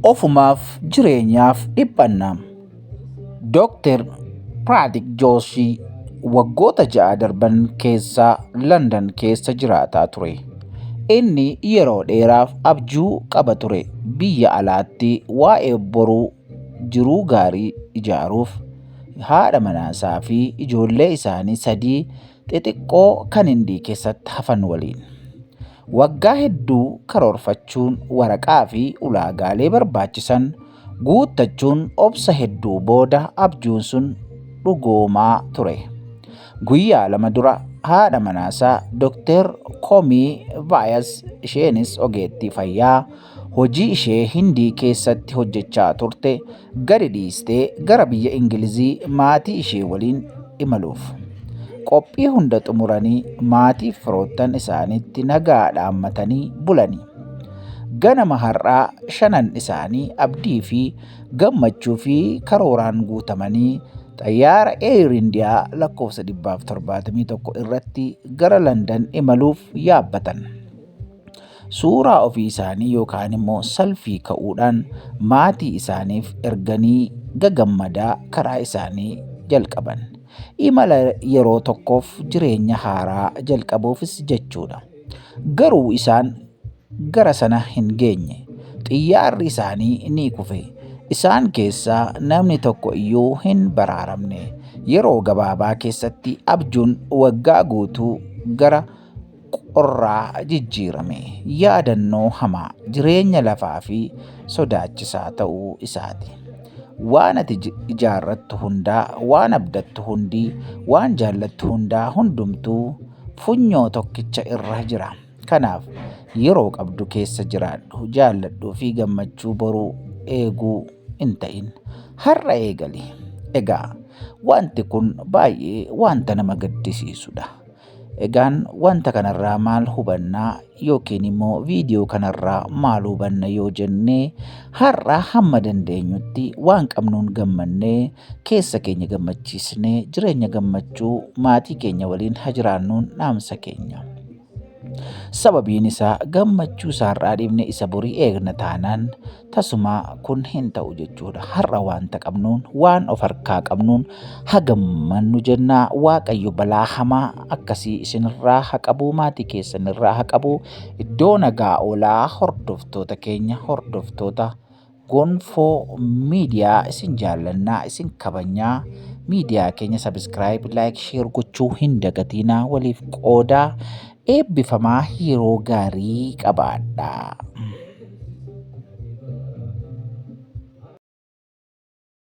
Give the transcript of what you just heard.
ofumaaf jireenyaaf dhiphanna. Dooktar Piraatik Jooshii waggoota ja'a darban keessaa Landan keessa jiraataa ture. Inni yeroo dheeraaf abjuu qaba ture biyya alaatti waa'ee boruu jiruu gaarii ijaaruuf haadha manaasaa fi ijoollee isaanii sadii xixiqqoo kan hindii keessatti hafan waliin. Waggaa hedduu karoorfachuun waraqaa fi ulaagaalee barbaachisan guuttachuun obsa hedduu booda abjuun sun dhugoomaa ture. Guyyaa lama dura haadha manaasaa Dr. Komii Vaayas isheenis ogeettii fayyaa hojii ishee Hindii keessatti hojjechaa turte gadi dhiistee gara biyya Ingilizii maatii ishee waliin imaluuf. Qophii hunda xumuranii maatiif firoottan isaaniitti nagaa dhaammatanii bulani. Ganama har'aa shanan isaanii abdii fi gammachuu fi karooraan guutamanii xayyaara Air India lakkoofsa 171 irratti gara Landan imaluuf yaabbatan. suuraa ofii isaanii yookaan immoo salfii ka'uudhaan maatii isaaniif erganii gagammadaa karaa isaanii jalqaban. Imala yeroo tokkoof jireenya haaraa jalqabuufis jechuudha. Garuu isaan gara sana hin geenye. Xiyyaarri isaanii ni kufe. Isaan keessaa namni tokko iyyuu hin baraaramne. Yeroo gabaabaa keessatti abjuun waggaa guutuu gara qorraa jijjiirame, yaadannoo hamaa, jireenya lafaa fi sodaachisaa ta'uu isaati. Waan ati ijaarrattu hundaa, waan abdattu hundi, waan jaallattu hundaa hundumtuu funyoo tokkicha irra jira. Kanaaf yeroo qabdu keessa jiraadhu, jaalladhuu fi gammachuu boruu eeguu hin ta'in. Har'a eegali. Egaa wanti kun baay'ee wanta nama gaddisiisudha. Egaan wanta kanarraa maal hubanna yookiin immoo viidiyoo kanarraa maal hubanna yoo jenne har'a hamma dandeenyutti waan qabnuun gammannee keessa keenya gammachiisnee jireenya gammachuu maatii keenya waliin haa jiraannuun dhaamsa keenya. Sababiin isaa gammachuu isaa har'aa dhiifne isa borii eegna taanaan Tasumaa kun hin ta'u jechuudha. Har'a wanta qabnuun, waan of harkaa qabnuun hagammannu jennaa Waaqayyo balaa hamaa akkasii isinirraa ha qabuu maatii keessanirraa ha qabuu iddoo nagaa oolaa hordoftoota keenya hordoftoota gonfoo miidiyaa isin jaallannaa isin kabanyaa miidiyaa keenya sabiskiraayib laayik sheer gochuu hin dagatiinaa waliif qoodaa Eebbifamaa yeroo gaarii qabaadhaa.